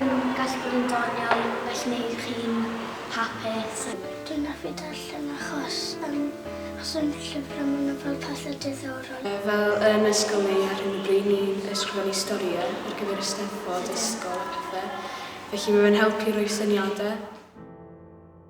Mae'n gallu bod yn doniol, felly wnewch chi'n hapus. Dwi'n hoffi darllen achos yym os yn llyfrau maen nhw fel pethau diddorol. Fel yn ysgol neu ar hyn o bryd ni'n ysgrifennu storïau ar gyfer y Steddfod ysgol a pethau, felly mae fe'n helpu rhoi syniadau.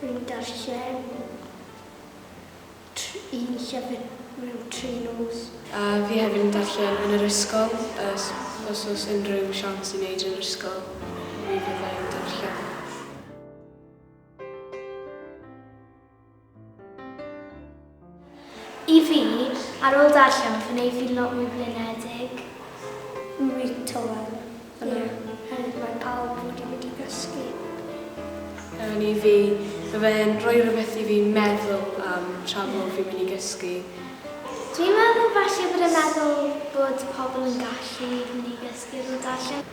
Yn darllen un llyfr mewn tri nos. A fi hefyd yn darllen yn yr ysgol, os oes unrhyw siawns i wneud yn yr ysgol, mi fydda i'n darllen. I fi, ar ôl darllen fy wneud fi'n lot mwy blinedig. Rili tywel. Ie. Ond mae pawb wedi mynd i gysgu. Yn i fi, fy fe'n rhoi rhywbeth i fi meddwl am tra bod fi'n mynd i gysgu. Dwi'n meddwl falle bod e'n meddwl bod pobl yn gallu mynd i gysgu ar ôl darllen.